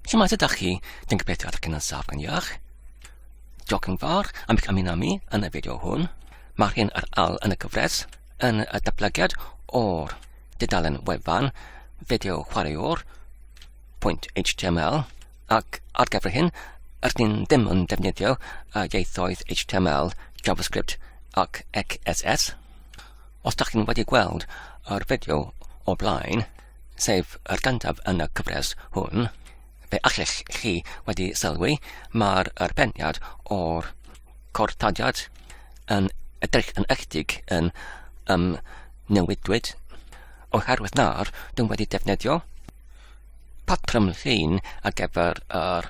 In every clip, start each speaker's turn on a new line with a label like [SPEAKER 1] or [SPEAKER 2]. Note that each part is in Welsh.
[SPEAKER 1] Shwmae, ydach chi? Dwi'n gobeithio ydych chi'n ansaf yn iach. Diolch yn fawr am eich ymuno mi yn y fideo hwn. Mae'r hyn ar al yn y gyfres yn y datblygiad o'r dudalen wefan fideo chwaraewr pwynt HTML ac ar gyfer hyn, rydyn ni'n ddim yn defnyddio y ieithoedd HTML, JavaScript ac XSS. Os da chi'n wedi gweld yr fideo o blaen, sef yr gyntaf yn y cyfres hwn, fe allech chi wedi sylwi, mae'r arbenniad o'r cortodiad yn edrych yn ychydig yn um, newidwyd oherwydd na'r dyn wedi defnyddio patrwm llun ar gyfer yr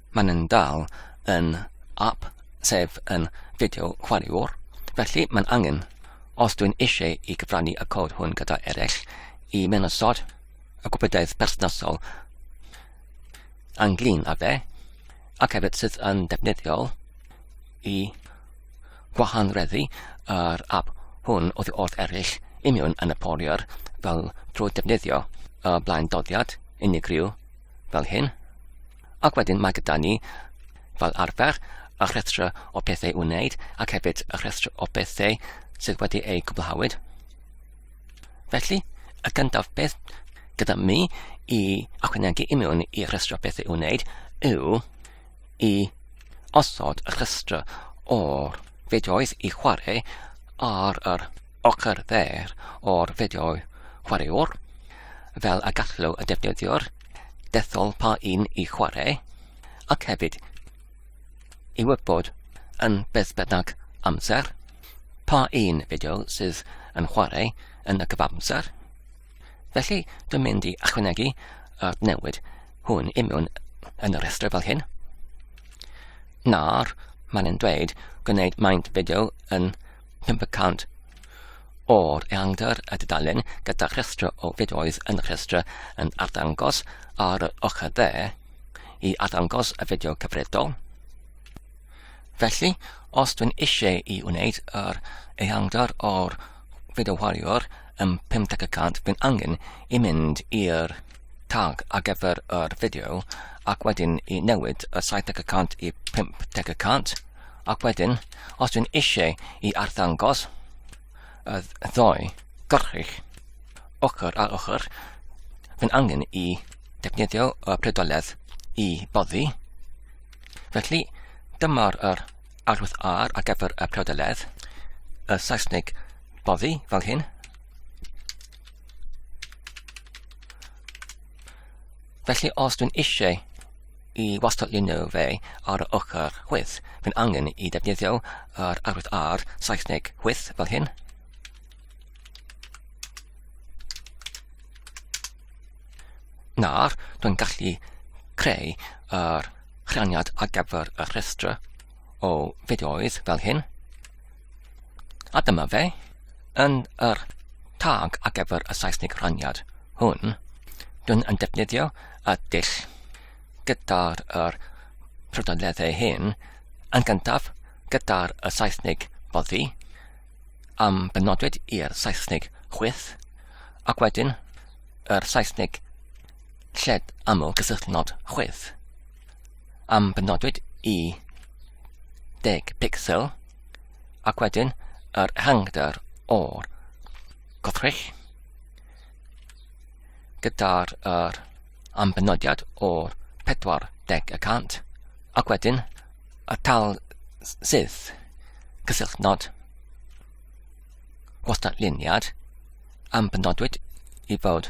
[SPEAKER 1] Maen nhw'n dal yn app, sef yn fideo chwaraewr, felly mae'n angen, os dwi'n eisiau i gyfrannu y cod hwn gyda eraill, i menysod y gwybodaeth berthnasol anglyn â fe, ac hefyd sydd yn defnyddiol i gwahanreddu yr app hwn oddi wrth eraill i mewn yn y poliwr fel drwy defnyddio y blaen doddiad unigryw fel hyn. Ac wedyn mae gyda ni, fel arfer, y rhestr o pethau i'w wneud ac hefyd y rhestr o bethau sydd wedi eu cwblhawyd. Felly, y gyntaf beth gyda mi i ychwanegu i mewn i rhestr o bethau i'w wneud yw i osod y rhestr o'r fideoedd i chwarae ar yr ochr dde'r o'r fideo chwaraewr, fel y gallu y defnyddiwr dethol pa un i chwarae, ac hefyd i wybod yn beth bynnag amser pa un fideo sydd yn chwarae yn y cyfamser. Felly, dwi'n mynd i ychwanegu yr newid hwn i mewn yn y rhestr fel hyn. Nawr, mae'n yn dweud gwneud maint fideo yn 500 o'r ehangder y dudalen gyda rhestr o fideoedd yn rhestr yn arddangos ar yr ochr dde i arddangos y fideo cyfredol. Felly, os dwi'n eisiau i wneud yr ehangder o'r fideo warrior yn 50% fi'n angen i mynd i'r tag ar gyfer yr fideo ac wedyn i newid y 70% i 50% Ac wedyn, os dwi'n eisiau i arddangos y ddoi gyrchig ochr ar ochr, fy'n angen i defnyddio y predoledd i boddi. Felly, dyma'r er arwydd ar ar gyfer y predoledd, y Saesneg boddi fel hyn. Felly, os dwi'n eisiau I wastatlunio fe ar yr ochr chwith, mae'n angen i ddefnyddio yr arwydd R, Saesneg chwith, fel hyn. Nawr, dwi'n gallu creu yr chraniad ar gyfer y rhestr. o fideoedd fel hyn. A dyma fe, yn yr tag ar gyfer y Saesnig rhaniad hwn, dwi'n yn defnyddio y dull gyda'r er prydoleddau hyn, yn gyntaf gyda'r y Saesnig boddi, am benodwyd i'r Saesnig chwyth, ac wedyn yr Saesnig lled aml gysylltnod chwyth. am fy nodwyd i 10 pixel ac wedyn yr ehangder o'r gothrych gyda'r er, ambenodiad o'r 40 y cant ac wedyn y tal sydd cysylltnod gwastad luniad am benodwyd i fod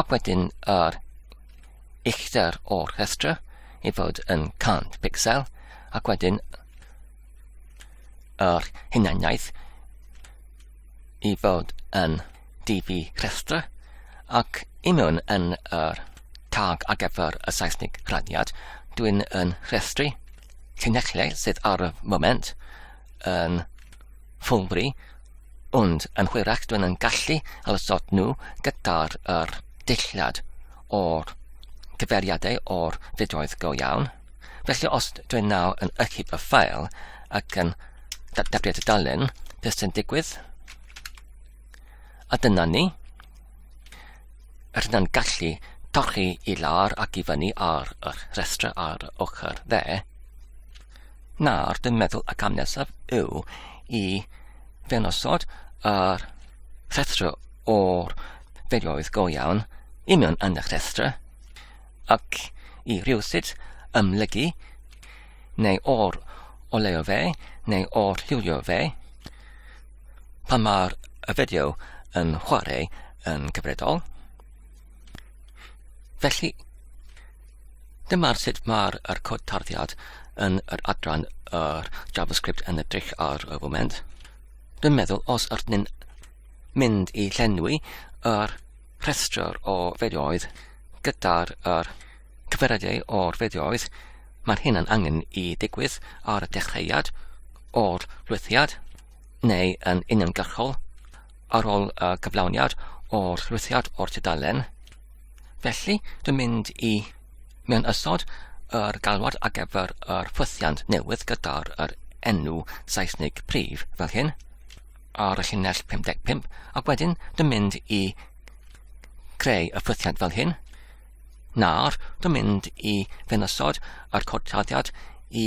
[SPEAKER 1] Ac wedyn yr uchder o'r rhestra i fod yn 100 pixel, ac wedyn yr hunaniaeth i fod yn DV rhestra, ac i mewn yn yr tag ar gyfer y Saesnig rhadiad, dwi'n yn rhestru llinellau sydd ar y moment yn ffwlbri Ond yn hwyrach dwi'n yn gallu ysod nhw gyda'r yr dillad o'r cyfeiriadau o'r fideoedd go iawn. Felly os dwi'n nawr yn ychyb y ffael ac yn dadriad y dalen, beth sy'n digwydd? A dyna ni. Yr hynna'n gallu torri i lawr ac i fyny ar yr rhestr ar ochr dde. Nawr, dwi'n meddwl y cam nesaf yw i fewn osod yr rhestr o'r fideoedd go iawn i mewn yn y rhestr ac i rhywsut ymlygu neu o'r oleo fe neu o'r lliwio fe pan mae'r fideo yn chwarae yn cyfredol. Felly, Dyma sut mae'r er cod tarddiad yn yr adran yr JavaScript yn edrych ar y foment. Dwi'n meddwl os ydyn ni'n mynd i llenwi yr rhestr o fideoedd gyda'r er cyferyddau o'r fideoedd, mae'r hyn yn angen i digwydd ar y dechreuad o'r lwythiad neu yn uniongyrchol ar ôl y cyflawniad o'r lwythiad o'r tudalen. Felly, dwi'n mynd i mewn ysod yr galwad ar gyfer yr ffwythiant newydd gyda'r yr enw Saesnig prif fel hyn ar y llinell 55 ac wedyn dwi'n mynd i creu y ffwythiant fel hyn nawr dwi'n mynd i fewn ysod yr codtaddiad i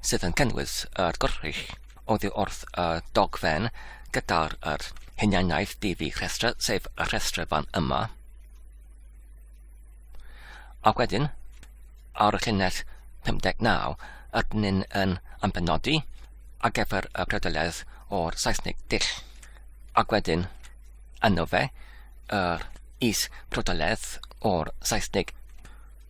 [SPEAKER 1] sydd yn cynnwys yr gorchudd oddi wrth y dogfen gyda'r yr hunianaeth ddi rhestr, sef y rhestr fan yma. Ac wedyn, ar y llinell 59, ydyn ni'n yn ambenodi ar gyfer y predoledd o'r Saesnig dill. Ac wedyn, yno fe, yr is predoledd o'r Saesnig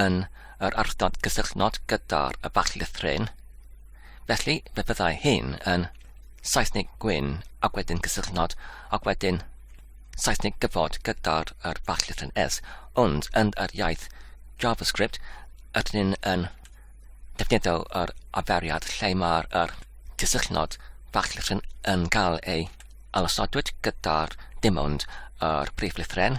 [SPEAKER 1] yn yr ardal gysylltnod gyda'r y bach llythryn. Felly, fe fyddai hyn yn Saesnig gwyn ac wedyn cysylltnod ac wedyn Saesnig gyfod gyda'r yr ballith yn S, ond yn yr iaith JavaScript ydyn ni'n yn defnyddio yr aferiad lle mae'r yr cysylltnod ballith yn, yn cael ei alosodwyd gyda'r dim ond yr brif lythren,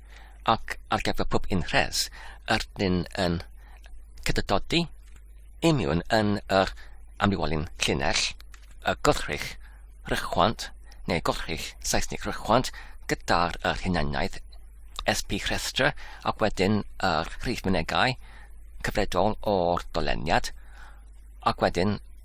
[SPEAKER 1] ac ar gyfer pob un rhes, yr dyn yn cydydodi, imiwn yn yr amlywolyn llinell, y gwrthrych rychwant, neu gwrthrych Saesnig rychwant, gyda'r yr hunaniaeth SP rhestr ac wedyn yr rhif mynegau cyfredol o'r doleniad ac wedyn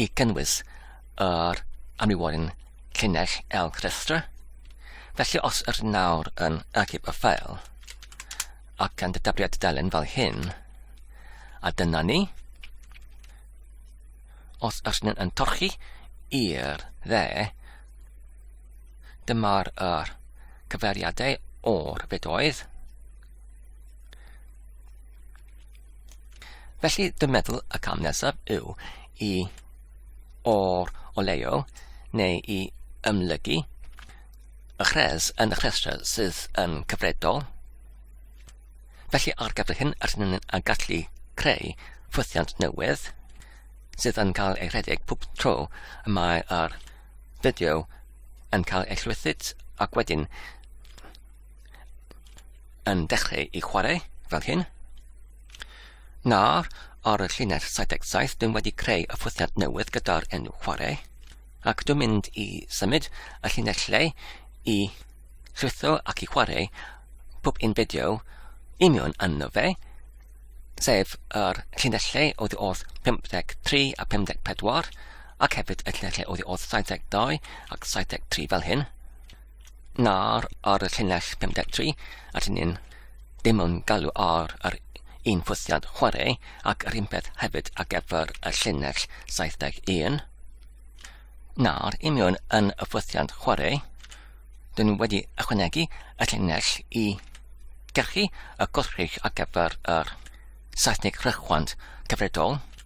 [SPEAKER 1] i gynnwys yr amrywiolyn llinell elg rhestra. Felly os yr nawr yn archif y ffael, ac gan dydafriad dudalen fel hyn, a dyna ni, os yr hyn yn torchi i'r dde, dyma'r er cyferiadau o'r fedoedd, Felly, dwi'n meddwl y cam nesaf yw i o'r o leio neu i ymlygu y chres yn y rhestr sydd yn cyfredol. Felly, ar gyfer hyn, rydyn ni'n gallu creu ffwythiant newydd sydd yn cael ei rhedeg pob tro y mae'r fideo yn cael ei llwythyd ac wedyn yn dechrau i chwarae fel hyn. Nawr, ar y llinell 77, dwi'n wedi creu y ffwythiant newydd gyda'r enw chwarae, ac dwi'n mynd i symud y llinell lle i llwytho ac i chwarae pob un fideo i mewn yno fe, sef yr llinell lle oedd oedd 53 a 54, ac hefyd y llinell lle oedd oedd 72 ac 73 fel hyn. na'r ar y llinell 53 at ni'n dim yn galw ar yr un ffwythiad chwarae ac yr un peth hefyd ar gyfer y llinell 71. Na'r imiwn yn y ffwythiad chwarae, dyn nhw wedi ychwanegu y llinell i gerchu y gwrthrych ar gyfer yr Saesnig rhychwant cyfredol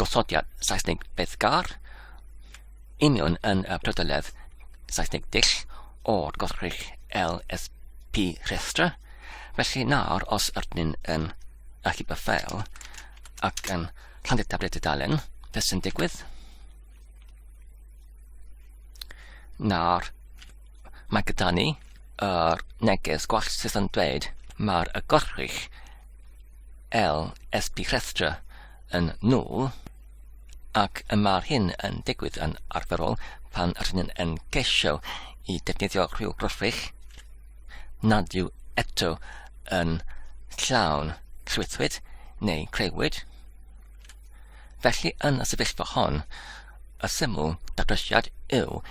[SPEAKER 1] gosodiad Saesneg beddgar, union yn y prydoledd Saesneg dull o'r gorchrych LSP rhestra, felly nawr os ydyn yn achub y ffeil ac yn llandu tabled y dalen, beth sy'n digwydd? Nawr, mae gyda ni yr neges gwell sydd yn dweud mae'r y gorchrych LSP rhestra yn null, ac y mae'r hyn yn digwydd yn arferol pan rydyn yn ceisio i defnyddio rhyw graffic nad yw eto yn llawn llwythwyd neu creuwyd. Felly yn y sefyllfa hon, y syml datrysiad yw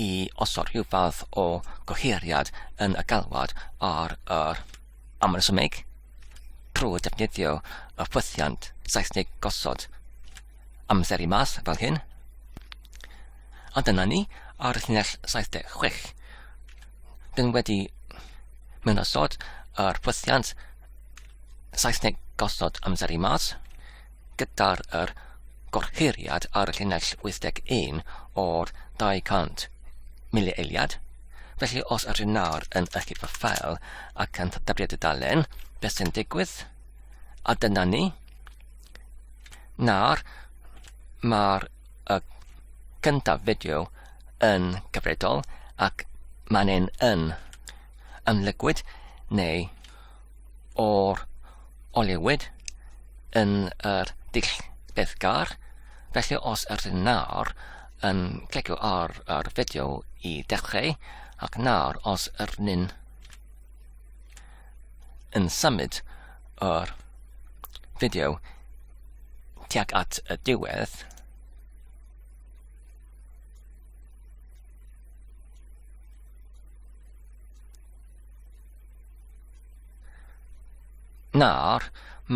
[SPEAKER 1] i osod rhyw fath o goheiriad yn y galwad ar yr amresymeg trwy ddefnyddio y ffwythiant Saesneg gosod amseru mas fel hyn. A dyna ni ar y llinell 76. Dyn wedi mewn osod yr ffwythiant Saesneg gosod amseru mas. gyda'r yr goruchwyliad ar y llinell 81 o'r 200 milieiliad, felly os ydyn nawr yn ychydig o ffeil ac yn dybrio dudalen, beth sy'n digwydd? A dyna ni. Nawr, mae'r y gyntaf fideo yn gyfredol ac mae'n ein yn ymlygwyd neu o'r olewyd yn yr dull bethgar. Felly os ydyn nawr yn clicio ar yr fideo i dechrau ac nawr os ydyn yn symud yr fideo tuag at y diwedd Nawr,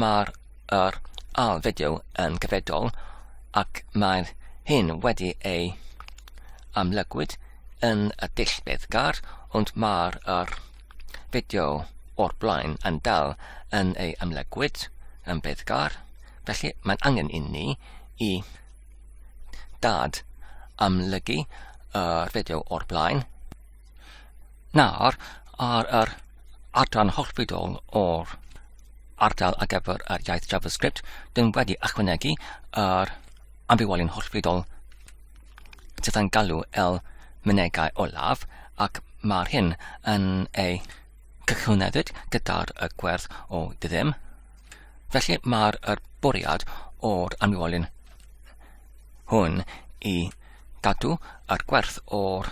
[SPEAKER 1] mae'r yr ail fideo yn gyfedol ac mae hyn wedi ei amlygwyd yn y dull bethgar, ond mae'r yr fideo o'r blaen yn dal yn ei amlygwyd yn bethgar, felly mae'n angen i ni i dad amlygu yr fideo o'r blaen. Nawr, ar yr adran hollbydol o'r ardal ar gyfer yr iaith JavaScript, dyn wedi ychwanegu yr ambiwolyn hollbydol sydd yn galw el mynegau olaf ac mae'r hyn yn ei cychwynefyd gyda'r y gwerth o ddim. Felly mae'r er bwriad o'r amniwolyn hwn i gadw yr gwerth o'r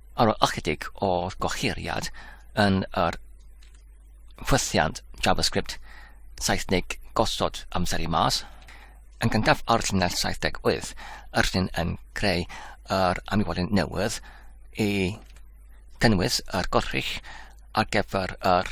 [SPEAKER 1] ar ôl ychydig o gohiriad yn yr ffwythiant JavaScript Saesnig gosod amser i mas, yn gyntaf ar llinell 78, yr llun yn creu yr amiwolyn newydd i gynnwys yr gorchych ar gyfer yr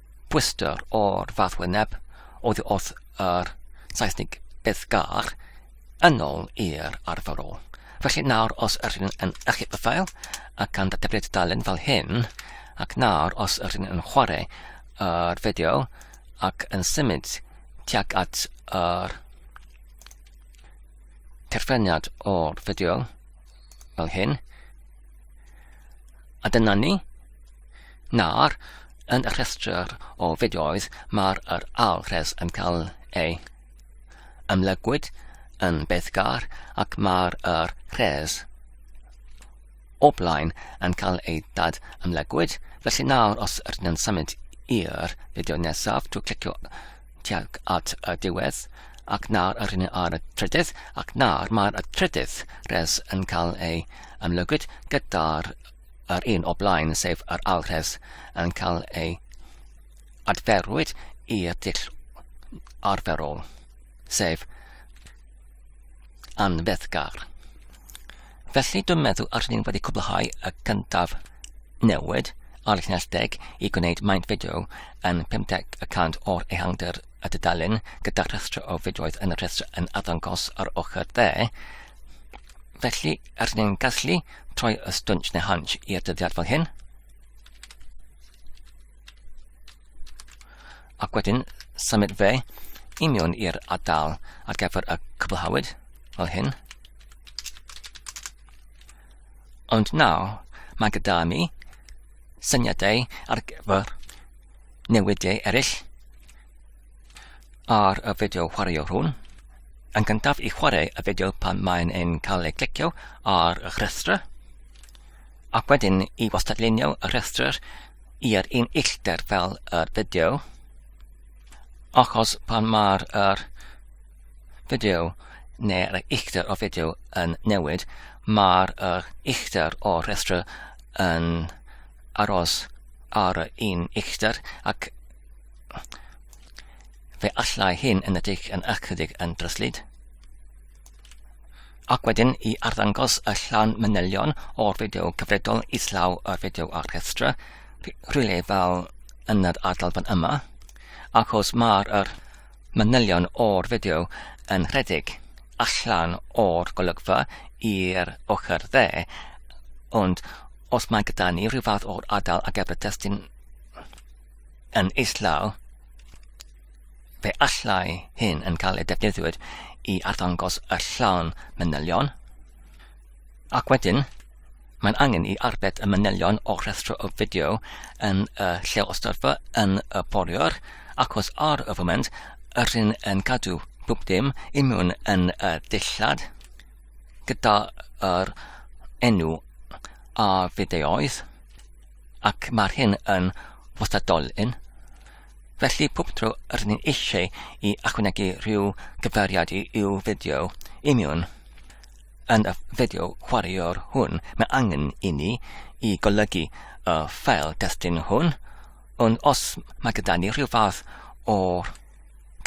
[SPEAKER 1] Gwistar o'r fath wyneb oedd wrth yr Saesnig Beddgar yn ôl i'r arferol. Felly nawr os yr hyn yn achub y ffael ac gan ddatebly'r dudalen fel hyn, ac nawr os yr hyn yn chwarae yr uh, fideo ac yn symud tuag at yr uh, terfreniad o'r fideo fel hyn, a dyna ni, Nawr, yn y rhestr o fideoedd mae'r yr alwres yn cael ei ymlygwyd yn bethgar ac mae'r yr rhes o blaen yn cael ei dad ymlegwyd. Felly nawr, os ydyn yn symud i'r fideo nesaf, dwi'n clicio tuag at y diwedd, ac nawr yr hynny ar y trydydd, ac nawr mae'r trydydd res yn cael ei ymlegwyd gyda'r yr un o blaen, sef yr alwres, yn cael ei adferwyd i'r dull arferol, sef anfeddgar. Felly dwi'n meddwl ar ni'n wedi cwblhau y cyntaf newid ar y llinell deg i gwneud maint fideo yn 50% o'r ehangder y dudalen gyda rhestr o fideoedd yn y rhestr yn addangos ar ochr dde Felly, rydyn ni'n gallu troi y stwnsh neu hunch i'r dyddiad fel hyn. Ac wedyn, symud fe i mewn i'r adal ar gyfer y cwblhawyd, fel hyn. Ond nawr, mae gyda mi syniadau ar gyfer newidiau eraill ar y fideo chwaraeol hwn. Yn gyntaf i chwarae y fideo pan mae'n ein cael ei clicio ar y rhestr, ac wedyn i wastadlunio y rhestr i'r un uchder fel y fideo, achos pan mae'r er fideo neu'r uchder o fideo yn newid, mae'r er uchder o rhestr yn aros ar y un uchder ac Fe allai hyn yn edrych yn ychydig yn dryslyd. Ac wedyn i arddangos y llan manylion o'r fideo cyfredol islaw o'r fideo ar rhestra, rhywle fel yn yr adal fan yma, achos mae'r er manylion o'r fideo yn rhedeg allan o'r golygfa i'r ochr dde, ond os mae gyda ni rhyw fath o'r adal ar gyfer testun yn islaw, fe allai hyn yn cael ei defnyddiwyd i arddangos y llawn manylion, ac wedyn mae'n angen i arbed y manylion o rhestr o fideo yn y lle o storfa yn y boriwr, ac os ar y foment yr hyn yn cadw bwb dim i mewn yn y dillad gyda'r enw a fideoedd. ac mae'r hyn yn wastadolyn, felly pob tro rydyn ni'n eisiau i ychwanegu rhyw gyfeiriad i'w fideo imiwn, yn y fideo chwaraewr hwn, mae angen i ni i golygu y ffael destun hwn, ond os mae gyda ni rhyw fath o'r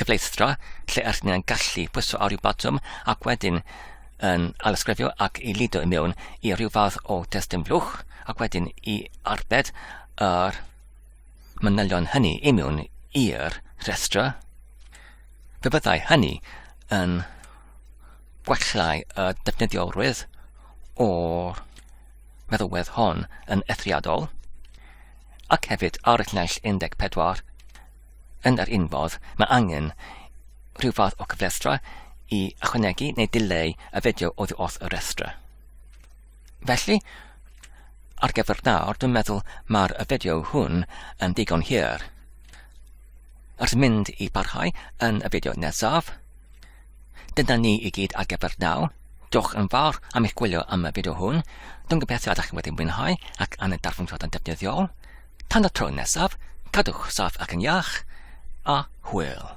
[SPEAKER 1] cyfleustra lle ydyn ni'n gallu pwyso ar ryw botwm ac wedyn yn alysgrifio ac i lido i mewn i ryw fath o destun blwch ac wedyn i arbed yr manylion hynny i mewn i'r rhestra. Fe fyddai hynny yn gwellai y defnyddiolrwydd o'r meddylwedd hon yn ethriadol ac hefyd ar y llinell 14 Yn yr un fodd, mae angen rhyw fath o cyflestra i ychwanegu neu dileu y fideo oddi wrth y rhestra. Felly, ar gyfer nawr, dwi'n meddwl mae'r fideo hwn yn digon hir. Ers mynd i barhau yn y fideo nesaf, dyna ni i gyd ar gyfer nawr. Diolch yn fawr am eich gwylio am y fideo hwn. Dwi'n gobeithio ydych chi wedi mwynhau ac am y darfu'n fod yn defnyddiol. Tan y tro nesaf, cadwch saff ac yn iach, a hwyl.